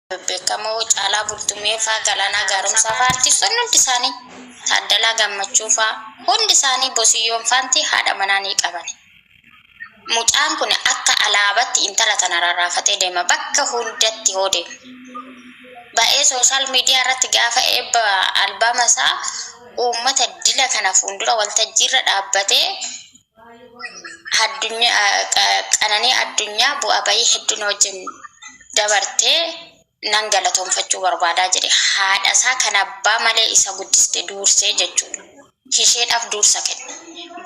bebbeekamoo Caalaa Bultumee faa, Galaanaa Gaaromsaa faa artiistonni hundi isaanii, Taaddalaa Gammachuu faa, hundi isaanii Bosiyyoon faanti haadha manaa ni qabani. Mucaan kun akka alaabatti intala tana rarraafatee deema bakka hundatti hoo deemu. Ba'ee soosaal miidiyaa irratti gaafa eebba albaama isaa uummata dila kana fuundura waltajjiirra dhaabbatee qananii addunyaa bu'aa bahii hedduu na wajjin dabarte nan galatoomfachuu barbaada jedhe. Haadha isaa kan abbaa malee isa guddiste duursee jechuudha. Isheedhaaf duursa kenne.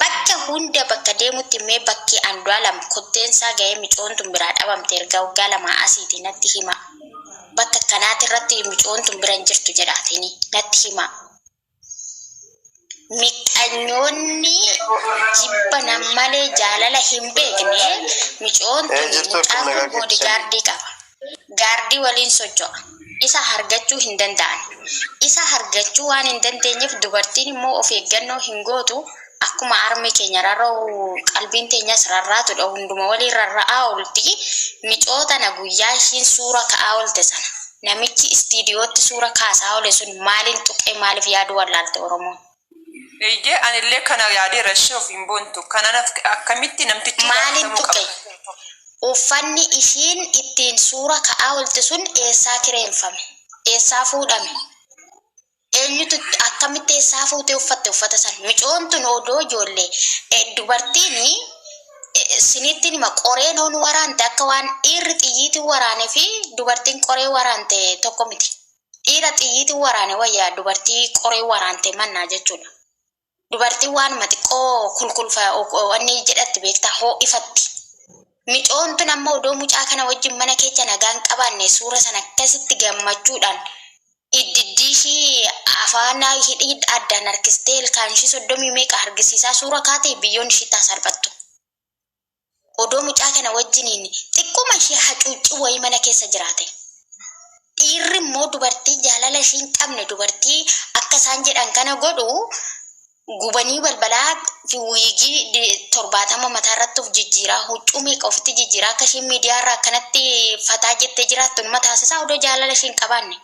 Bakka hunda bakka deemutti mee bakki Andu'aalam kotteen isaa gahee micoon tun biraa dhabamte erga waggaa lamaa asiiti natti himaa. Bakka akkanaati irratti micoon tun bira hin jirtu jedhaatini natti himaa. Mixanyoonni jibba nam malee jaalala hin beekne micoon tuni Ee jirtuu mucaa akkam kun nagaa boodi keessanii. gaardii qaba. Gaardii waliin socho'a. Isa hargachuu hin danda'an. Isa hargachuu waan hin dandeenyeef dubartiin immoo of eeggannoo hin gootu. Akkuma armi keenya rarra'u qalbiin teenyas rarraatu dha, hunduma waliin rarra'aa oolti. Micoo tana guyyaa ishiin suura ka'aa oolte sana namichi istiidiyootti suura kaasaa oole sun maaliin tuqee maaliif yaaduu wallaalte Oromoon? Eeyyee anillee kana yaadeera ishee ofiin boontu kana akkamitti namtichi Maaliin gaafatamuu tuqe? qaba? Uffanni ishiin ittiin suura ka'aa oolte sun eessaa kireenfame? Eessaa fuudhame? Eenyutu akkamitti eessaa fuutee uffatte uffata san? Micoon tun odoo ijoolle dubartiin siniittiin hima qoreen hoon waraante akka waan dhiirri xiyyiitiin waraane fi dubartiin qoree waraante tokko miti. Dhiira xiyyiitiin waraane wayya dubartii qoree waraante mannaa jechuudha. Dubartiin waanuma xiqqoo kulkulfa wanni jedhatti beektaa hoo'ifatti. Micoon tun amma odoo mucaa kana wajjin mana keecha nagaan qabaanne suura san akkasitti gammachuudhaan iddiddii ishii afaan hidhii addaan harkistee ilkaan ishii soddomii meeqa hargisiisaa suura kaate biyyoon ishii taa salphattu. Odoo mucaa kana wajjiniin xiqquma ishee hacuuccii wayii mana keessa jiraatee. Dhiirri immoo dubartii jaalala ishii hin qabne dubartii akka isaan jedhan kana godhu gubanii balbalaa fi wiigii 70 mataa irratti of jijjiiraa huccuu meeqa ofitti jijjiiraa akka isheen miidiyaa irraa akkanatti fataa jettee jiraattu nima taasisaa odoo jaalala ishii hin qabaanne.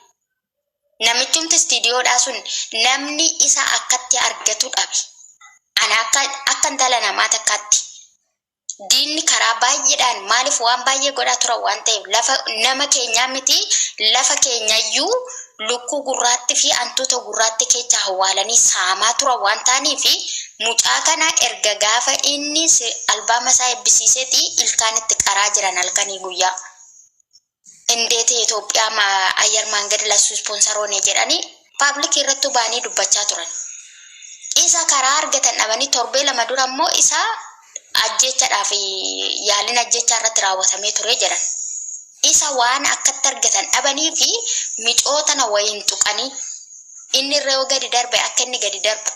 Namichumti istiidiyoodhaa sun namni isa akkatti argatu dhabe. Ana akka akka intala namaa takkaatti diinni karaa baay'eedhaan maaliif waan baay'ee godhaa turan waan ta'eef lafa nama keenyaa miti lafa keenyayyuu lukkuu gurraatti fi antuuta gurraatti keechaa hawwaalanii saamaa turan waan ta'aniif mucaa kana erga gaafa inni albaama isaa eebbisiiseeti ilkaan itti qaraa jiran halkanii guyyaa. Indeeti Itoophiyaa Ayyar Maangad Lassu Ispoonsar Hoone jedhani paablikii irrattuu ba'anii dubbachaa turan. Isa karaa argatan dhabanii torbee lama dura immoo isa ajjeechadhaa fi yaaliin ajjeechaa irratti raawwatamee ture jedhan. Isa waan akkatti argatan dhabanii fi micoo tana wayiin tuqanii inni irra yoo gadi darbe akka inni gadi darbu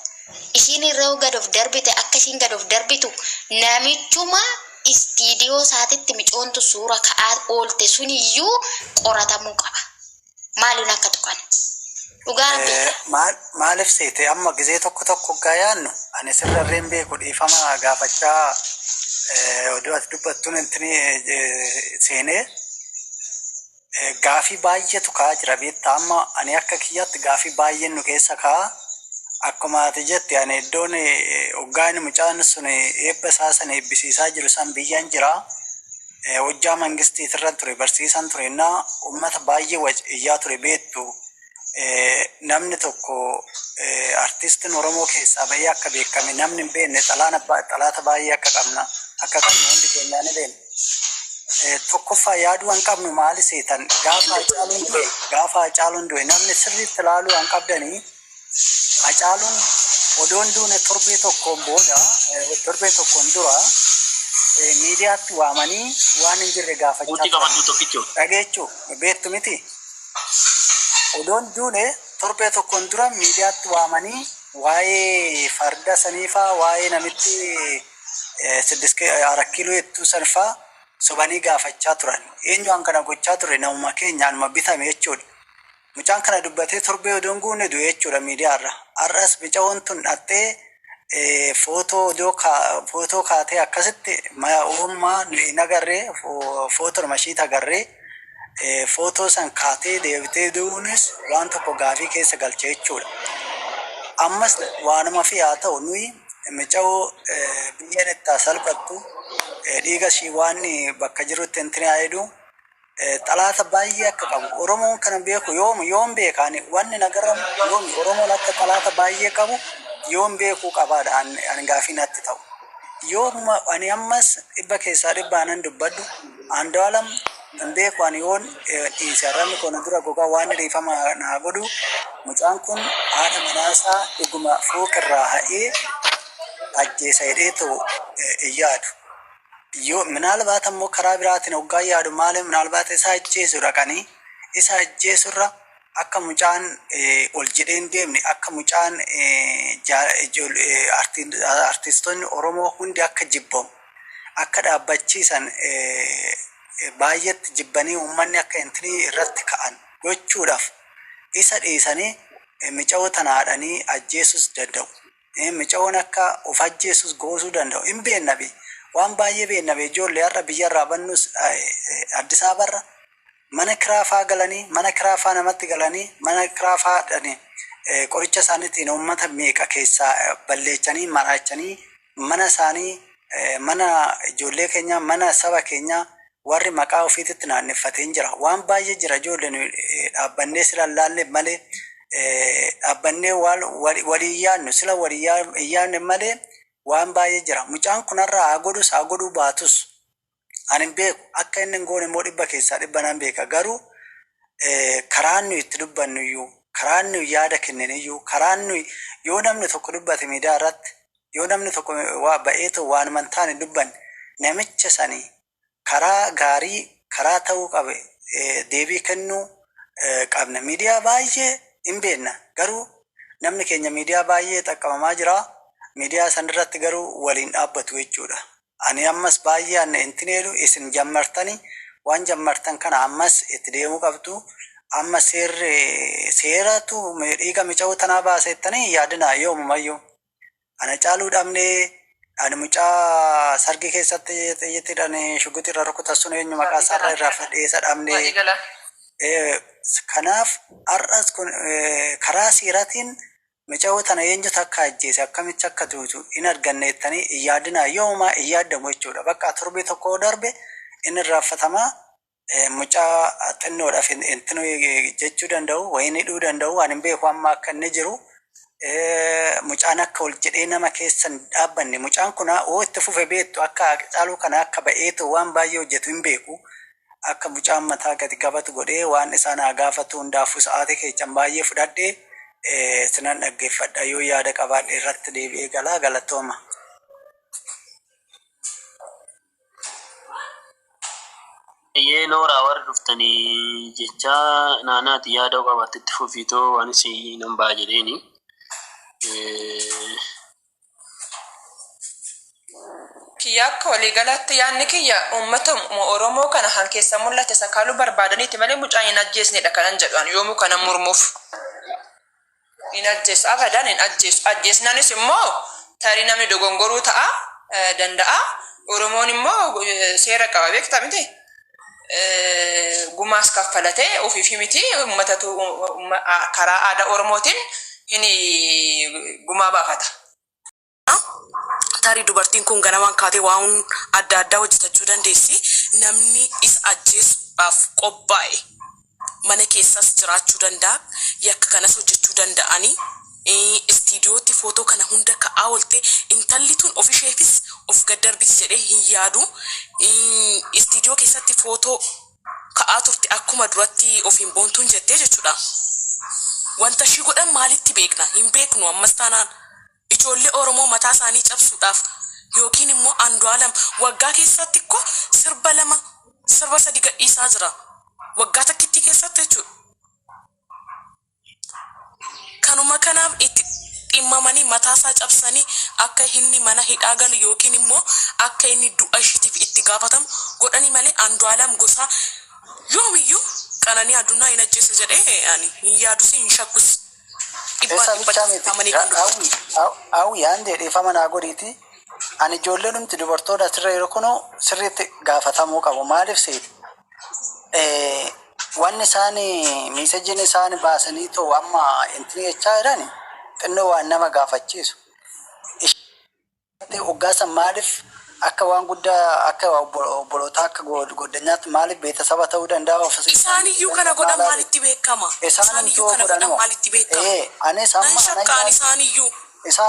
ishiin irra yoo gad of darbite akka ishiin gad of darbitu namichuma istiidiyoosaatetti micoontu suura ka'aa oolte suniyyuu qoratamuu qaba. Maaliin akka tuqan. Dhugaa rabbii kaa. Maal maalif seete amma gizee tokko tokko oggaa yaannu ani sirrarree hin beeku dhiifama gaafachaa oduu ati dubbattuun intini seenee. Gaafii baayyetu ka'aa jira beektaa amma ani akka kiyyaatti gaafii baayyeen nu keessa ka'a akkuma ati jette ani iddoon oggaa inni mucaan sun eebba isaa san eebbisiisaa jiru san biyyan jira hojjaa mangistiitirra ture barsiisan ture innaa ummata baayyee waj iyyaa ture beektu namni tokko artistin Oromoo keessaa bahee akka beekame namni hin beekne xalaana ba- xalaata baay'ee akka qabna akka qabnu hundi keenyaa ni beekna. Eh, Tokkoffaa yaaduu hin qabnu maali seetan gaafa Hacaaluun du'e gaafa Hacaaluun du'e namni sirriitti ilaaluu hin qabdanii Hacaaluun odoon duune torbee tokkoon booda eh, torbee tokkoon dura eh, miidiyaatti waamanii waan hin jirre Murtii gaafachaa qabadhu tokkicho. dhageechuu beektu miti. Odoo hin duune torbee tokkoon dura miidiyaatti waamanii waa'ee farda saniifaa waa'ee namitti siddis arat kiiloo jettuu sanfaa sobanii gaafachaa turan. Eenyuwaan kana gochaa ture namuma keenya anuma bitame jechuudha. Mucaan kana dubbatee torbee odoo hin guunne du'e jechuudha miidiyaarra. Har'as micawoon tun dhaxxee Footoo odoo footoo kaatee akkasitti uumaa nuyi hin agarree footoodhuma ishiitti agarree footoo san kaatee deebitee du'uunis waan tokko gaafii keessa galcha jechuudha. Ammas waanuma fi haa ta'u nuyi mica'oo biyyeen itti salphattu dhiiga ishii waan bakka jirutti hin tinaa'edhu. xalaata baay'ee akka qabu Oromoon kana beeku yoom yoom beeka ani wanni na garramu yoom Oromoon akka xalaata baay'ee qabu yoom beekuu qabaadha an, an gaafii natti ta'u. Yoomuma ani ammas dhibba keessaa dhibba anan dubbadhu Andu'aalam hin beeku ani yoon eh, dhiise arrabni koo na dura gogaa waan dhiifama naa godhu mucaan kun haadha manaasaa dhuguma fooqirraa ha'ee ajjeesa jedhee ta'u eh, hin yaadu. Yoo, minaalbaat ammoo karaa biraatiin hoggaa yaadu maale minaalbaat isa ajjeesu dhaqanii isa ajjeesurra akka mucaan ol jedhee hin deemne akka mucaan artistoonni Oromoo hundi akka jibbamu akka dhaabbachiisan baay'eetti jibbanii uummanni akka intinii irratti ka'an gochuudhaaf isa dhiisanii micayoo tana haadhanii ajjeesuus danda'u. Micayoon akka uf ajjeessus goosuu danda'u hin beenna bee waan baay'ee beenna bee ijoolle har'a biyya irraa bannus Addis Ababa irra mana kiraa faa galanii mana kiraa faa namatti galanii mana kiraa faa dhani qoricha isaanitiin uummata meeqa keessaa balleechanii maraachanii mana isaanii mana ijoollee keenyaa mana saba keenyaa Warri maqaa ufiititti naanneffate hin jira. Waan baay'ee jira ijoolle nuyi dhaabbannee sila hin laalleef malee dhaabbannee waan walii hin yaannu. Sila walii hin yaanneef malee waan baay'ee jira. Mucaan kun har'a haa godhus haa godhuu baatus ani hin beeku. Akka inni hin goone immoo dhibba keessaa dhibba nan beeka. Garuu karaan nuyi itti dubbannu iyyuu, karaan nuyi yaada kenninu iyyuu, karaan nuyi yoo namni tokko dubbate miidiyaa irratti Yoo namni tokko ba'eetoo waanuma hin taane hin dubbanne, namicha sani karaa gaarii, karaa ta'uu qabe deebii kennuu qabna. Miidiyaa baay'ee hin beekna, garuu namni keenya miidiyaa baay'ee xaqqabamaa jira, miidiyaa san irratti garuu wal hin dhaabbatu jechuu dha. Ani ammas baay'ee an intin jedhu isin jammartani, waan jammartan kana ammas itti deemuu qabdu, amma seerri seeratu dhiiga micayoo tanaa baasa jettanii hin yaadinaa yoomumayyuu. Ana caaluu dhabne ani mucaa sargi keessatti xiyyitidhan shuguxi irra rukutan sun eenyu maqaa isaa irra irraa fadhee isa dhabne kanaaf har'as kun karaa siiratiin micawoo tana eenyutu akka ajjeese akkamitti akka duutu hin arganneettanii hin yaadinaa yoomaa hin yaaddamu jechuudha bakka torbee tokko darbe inni irraanfatamaa Mucaa xinnoodhaf intinu jechuu danda'u wayin hidhuu danda'u ani hin beeku amma akka inni jiru mucaan akka ol jedhee nama keessa hin dhaabbanne mucaan kuna oo itti fufe beektu akka caaluu kana akka ba'eetu waan baay'ee hojjetu hin beeku akka mucaan mataa gadi qabatu godhee waan isaan haa gaafatu hundaafuu sa'aatii keessan baay'ee fudhadhe sinan dhaggeeffadha yoo yaada qabaadhe irratti deebi'ee galaa galatooma. Bayyee nooraa warri dhuftani jechaa naanaati yaada'u qabaatte itti fufiitoo waan si nan ba'a jedheeni. Kiyya akka waliigalaatti yaanni kiyya uummata Oromoo kana kan keessaa mul'ate sakaaluu barbaadaniiti malee mucaa hin ajjeesneedha kanan jedhu an yoomuu kanan mormuuf. Hin ajjeesu. Abadan hin ajjeesu. Ajjeesnanis immoo tarii namni dogongoruu ta'a danda'a. Oromoon immoo seera qaba beekta miti. Gumaas kaffalate ofiifi miti ummatatu karaa aadaa Oromootiin hin gumaa baafata. Tarii dubartiin kun ganamaan kaatee waan adda addaa hojjetachuu dandeessi. Namni isa ajjeesuudhaaf qophaa'e mana keessas jiraachuu danda'a. Yakka kanas hojjechuu danda'anii. Istiidiyootti footoo kana hunda ka'aa oolte. Intalli tun ofisheefis of gad darbiti jedhee hin yaadu. Istiidiyoo keessatti footoo ka'aa turte akkuma duratti ofiin boontuun jettee jechuudha. Wanta ishii godhan maalitti beekna? Hin beeknu ammas taanaan. Ijoollee Oromoo mataa isaanii cabsuudhaaf yookiin immoo Andualam waggaa keessaatti ikko sirba lama sirba sadi gadhiisaa jira. Waggaa takkittii keessaatti jechuudha. Kanuma kanaaf itti dhimmamanii mataa isaa cabsanii akka inni mana hidhaa galu yookiin immoo akka inni du'a ishiitiif itti gaafatamu godhanii malee Andualam Gosaa yoomiyyuu Qananii Adunaa hin ajjeesa jedhee ani hin yaadus hin shakkus. dhibbaa Eessa dhibba bichaa miti. taamanii kan dubbatu. Hawwi, haw- hawwi aan jedhe dhiifama naa godhiiti. Ani ijoollee dhumti dubartoota asirra jiru kunuu sirriitti gaafatamuu qabu. Maaliif seeti? Eh, wanni isaan miisejjiin isaan baasanii too amma intini jechaa jiran xinnoo waan nama gaafachiisu. Ish- Ati oggaa san maalif akka waan gudda akka obbolootaa akka gooddanyaatti maalif beetasaba ta'uu danda'a of Isaan iyyuu kana godhan maalitti beekkama? Isaan iyyuu kana godhan maalitti beekkama? Anis amma Nan shakka ani isaan iyyuu.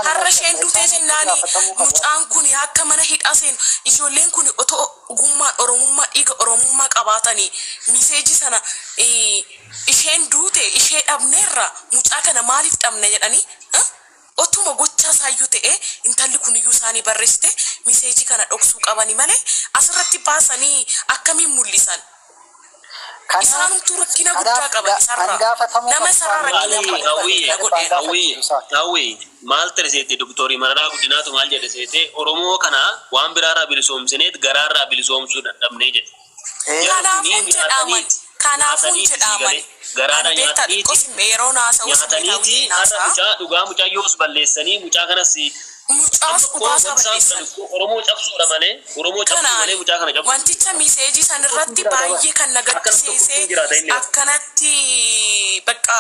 Har'a isheen duutee jennaani mucaan kuni akka mana hidhaa seenu ijoolleen kuni otoo ogummaan oromummaa dhiiga oromummaa qabaatani miseeji sana isheen duute ishee dhabneerra mucaa kana maalif dhabna jedhani Otuma gochaa isaayyuu ta'ee intalli kuniyyuu isaanii barreessite miseejii kana dhoksuu qabani malee asirratti baasanii akkamiin mul'isan? Kanaaf Isaanumtuu rakkina guddaa kanaaf qaban ga- kan isarraa. gaafatamuu Nama qabu isarraa Maali rakkina Maali qabu hawwii barreessee na godheera. hawwii gaafachiisu isaati. hawwii maal ta'e seete doktorii mararaa guddinaatu maal jedhe seete oromoo kana waan biraarraa bilisoomsineet garaarraa bilisoomsuu dadhabnee jedhe Kanaafuu hin jedhaaman Kanaafuu hin jedhaaman Ani beektaa xiqqoo sin mi'e yeroon haasa'u ismeetaawii ta'een haasa'a. Mucaas dhugaasaa balleessan. Kanaani wanticha miseejii san irratti baay'ee kan na gaddisiise akkanatti bakka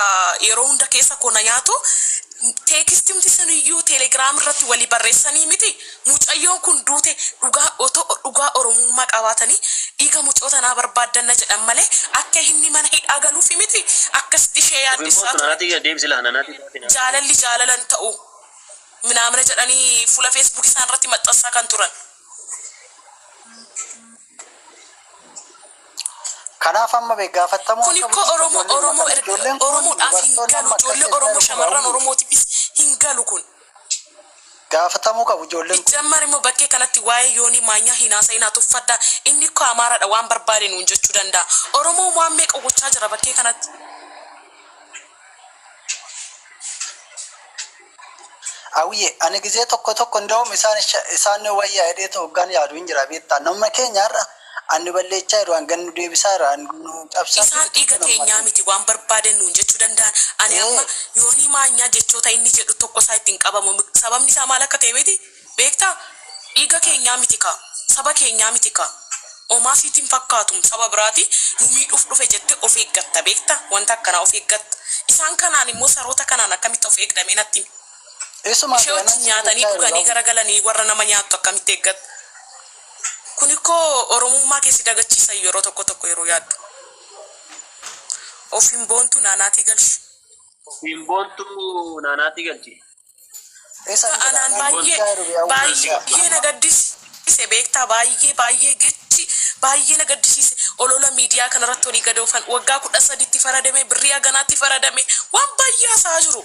yeroo hunda keessa koo na nyaatu teekistimti suniyyuu telegiraam irratti wali barreessanii miti Mucayyoon kun duute dhugaa oto dhugaa oromummaa qabaatani dhiiga mucoo tanaa barbaaddanna jedhan malee akka inni mana hidhaa galuufi miti akkasitti ishee yaaddessaa turan jaalalli jaalala hin ta'u minaamina jedhanii fuula facebook isaan irratti maxxansaa kan turan. Kanaaf amma bee gaafattamuu Kun akka ikkoo bulchiinsa gaafatamuu qabu ijoolleen kun. Sijjammar immoo bakkee kanatti waa'ee Yoonii Maanyaa hin haasa'inaa tuffadhaa inni kko Amaaraadha waan barbaade nuun jechuu danda'a. Oromoo waan meeqa gochaa jira bakkee kanatti. Awiye ani gizee tokko tokko ndawum isaan isaan wayya hedheetu hoggaan yaadu hin jira beektaa namuma keenya har'a An nu balleechaa jiru, an gad nu deebisaa jiru, an nu cabsaa jiru. Isaan dhiiga teenyaa miti waan barbaaden nuun jechuu danda'an. Ani amma Yoonii Maanyaa jechoota inni jedhu tokko isaa itti hin qabamu. Sababni isaa maal akka ta'e miti beektaa? Dhiiga keenyaa miti kaa, saba keenyaa miti kaa. Omaa siiti hin fakkaatum saba biraati nu miidhuuf dhufe jette of eeggatta beekta wanta akkanaa of eeggatta. Isaan kanaan immoo saroota kanaan akkamitti of eegda mee natti himi. Ishee wajjin nyaatanii dhuganii gara galanii warra nama nyaattu akkamitti eeggatta? Kunikoo oromummaa kee si dagachiisa yeroo tokko tokko yeroo yaaddu. Ofiin boontu naa naatii galchi. Ofiin boontu naa naatii galchi. Dhugaa anaan baayyee baayyee na gaddisiise beektaa baayyee baayyee gechi baayyee na gaddisiise olola miidiyaa kanarratti olii gad oofan waggaa kudha sadi itti faradame birrii haganaa itti faradame waan baayyee haasa'aa jiru.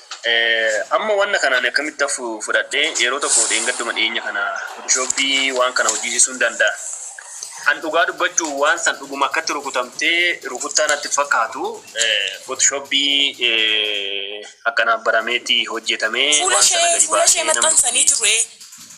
Amma wanna kana ani akkamitti hafu fudhadhe yeroo tokko dheengadduma dhiyeenya kana Photoshopii waan kana hojjiisisuun danda'a. An dhugaa dubbachuu waan san dhuguma akkatti rukutamtee rukuttaa natti hin fakkaatu Photoshopii akkanaa barameeti hojjetamee Fuula waan sana ishee gadi fuula ishee baasee namni maxxansanii jiru ee.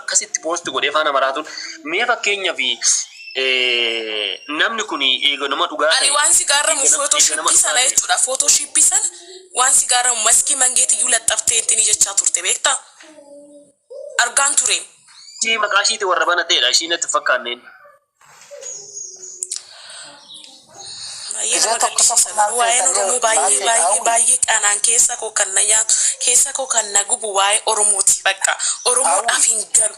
akkasitti post godhee faana maraatuun mee fakkeenyaaf namni kun eega nama dhugaa Ani ta'e waan si gaarramu eega nama eega nama footoshiippii sana dhugaa ta'e jechuudha. Footoshiippii sana waan si gaarramu maskii mangeetii iyyuu laxxaftee ittiin jechaa turte beektaa? Argaan ture. ishii maqaa ishiiti warra banateedha ishii natti hin fakkaanneen. Baay'ee nama gaddisiisa. Waa'een Oromoo baay'ee baay'ee baay'ee qanaan keessa koo kan na nyaatu keessa koo kan na gubu waa'ee Oromooti bakka. Oromoodhaaf hin galu.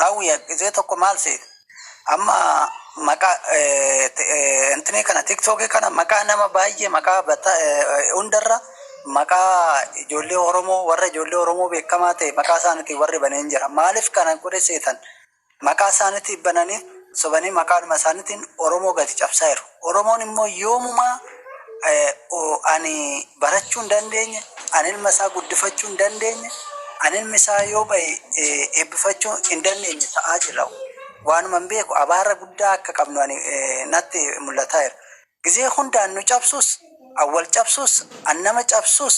Hawwiya gizee tokko maal seete amma maqaa intinii kana tiktookii kana maqaa nama baay'ee maqaa bata- eh, hundarra maqaa ijoollee Oromoo warra ijoollee Oromoo beekamaa ta'e maqaa isaaniitiin warri baneen jira maaliif kana godhe seetan Maqaa isaaniitiif bananii sobanii maqaadhuma isaaniitiin Oromoo gadi cabsaa jiru. Oromoon immoo yoomumaa ani barachuu hin dandeenye, ani ilma isaa guddifachuu hin dandeenye, ani ilmi isaa yoo bahe eebbifachuu hin dandeenye ta'aa jira. Waanuma hin beeku abaara guddaa akka qabnu ani natti mul'ataa jira. Gizee hundaan nu cabsuus, an wal cabsuus, an nama cabsuus,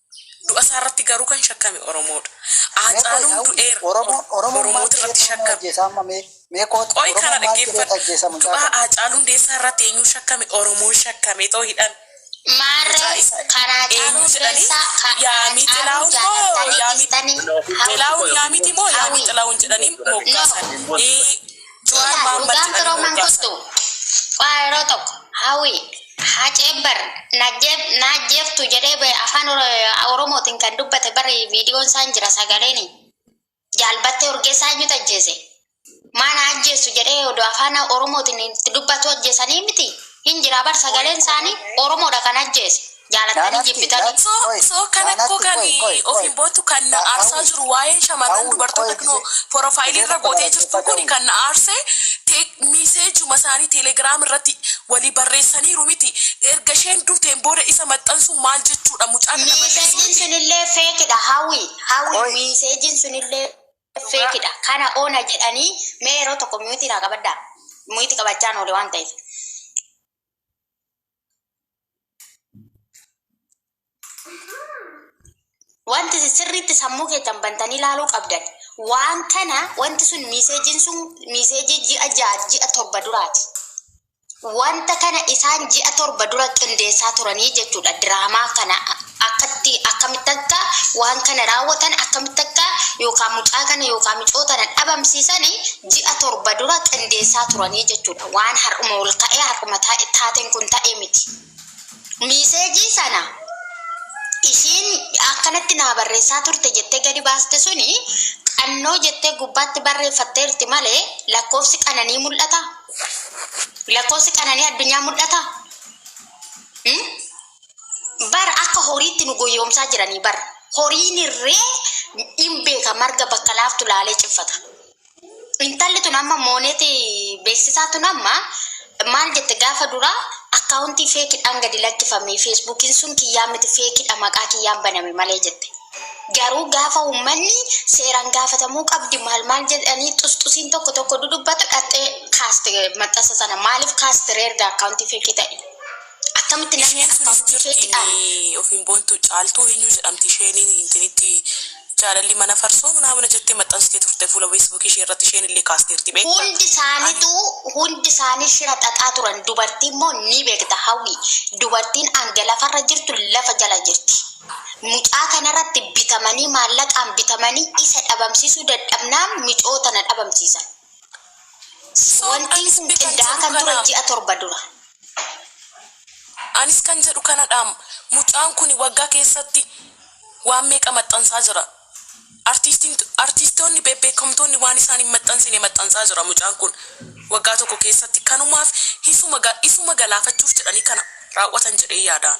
Du'a isaa irratti garuu kan shakkame Oromoo dha. Haacaaluun du'eera. Oromoota irratti shakkame. Qoy kana dhaggeeffadhu. Du'a Haacaaluu Hundeessaa irratti eenyuun shakkame? Oromoon shakkamee too hidhame. Maarree, kan Haacaaluu Hundeessaa, kan Haacaaluu jaallattanii dhiistanii hawwii Xilaahun jedhanii moggaasani. Jawaar Dhugaa Mohaammed dhugaan jedhanii firooman moggaasa. kuttu qaa yeroo tokko hawii hacee bar najjeef naajjeeftu jedhee ba'e afaan Oro- oromootiin kan dubbate bari viidiyoon isaan jira sagaleen jaalbattee urgeessaa eenyutu ajjeese maana ajjeessu jedhee odoo afaan oromootiin itti dubbatu ajjeesanii miti hin jira bar sagaleen isaanii oromoodha kan ajjeese Jaalattanii jibbitanii. So so kan akkoo kan ofiin boottu kan na aarsaa jiru waa'een shamarran dubartoota knoo porofaayilii irra gootee jirtuu kuni kan na aarse te miiseejuma isaanii teelegraam irratti walii barreessaniiru miti erga isheen duuteen booda isa maxxansuun maal jechuudha mucaa kana balleessuu Miiseejiin miti. sunillee fake dha Hawwi Hawwi Qoy. miiseejiin sunillee fake dha kana ona jedhanii mee yeroo tokko mute naa qabadhaa mute qabachaan oole waan ta'eef. Wanti isin sirriitti sammuu keessan bantanii ilaaluu qabdan waan kana wanti sun miiseejiin sun miiseejii ji'a ja'a ji'a torba duraati. Wanta kana isaan ji'a torba dura qindeessaa turanii jechuudha diraamaa kana akkatti akkamitti akka waan kana raawwatan akkamitti akka yookaan mucaa kana yookaan micoota kana dhabamsiisanii ji'a torba dura qindeessaa turanii jechuudha. Waan har'uma ol ka'ee har'uma taa'e taateen kun ta'e miti. Miiseejii sana ishiin akkanatti naa barreessaa turte jettee gadi baaste suni qannoo jettee gubbaatti barreeffatteerti malee lakkoofsi qananii mul'ata? Lakkoofsi qananii addunyaa mul'ata? Hmm? Bar akka horiitti nu goyoomsaa jiranii bar horiin irree hin beeka marga bakka laaftu laalee ciffata. Intalli tun amma mooneeti beeksisaa tun amma maal jette gaafa duraa akkaawuntii feekidhaan gadi lakkifame feesbuukiin sun kiyyaa miti feekidha maqaa kiyyaan baname malee jette. Garuu gaafa uummanni seeraan gaafatamuu qabdi maal maal jedhanii xusxusiin tokko tokko dudubbatu dhaxxee kaaste maxxansa sana maaliif kaaste reerga akkaawuntii feekii ta'e. Akkamitti namni Isheen akka sunis isheetti jirti aane. inni ofiin boontu caaltuu eenyu jedhamti isheen intinitti jaalalli mana farsoo manaa mana jettee maxxansitee turte fuula facebook ishee irratti isheen illee kaasteerti beekta Hundi isaanitu ani hundi isaanii shira xaxaa turan dubartii immoo ni beekta hawwi dubartiin hanga lafarra jirtu lafa jala jirti mucaa kanarratti bitamanii maallaqaan bitamanii isa dhabamsiisuu dadhabnaan micoo tana dhabamsiisan Wantii sun qindaa'aa kan ture ji'a torba dura. Anis kan jedhu kanadhaam mucaan kuni waggaa keessatti waan meeqa maxxansaa jira. Artiistoonni beebbeekamtoonni waan isaan hin maxxansine maxxansaa jira mucaan kun waggaa tokko keessatti kanumaaf isuma galaafachuuf jedhanii kana raawwatan jedhee yaadaan.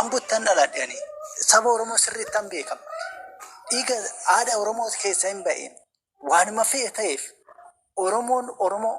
Ambottan dhaladhe ani. Saba Oromoo sirriittan beeka. Dhiiga haadha Oromoo keessa hin ba'e. Waanuma fe'e ta'eef Oromoon Oromoo.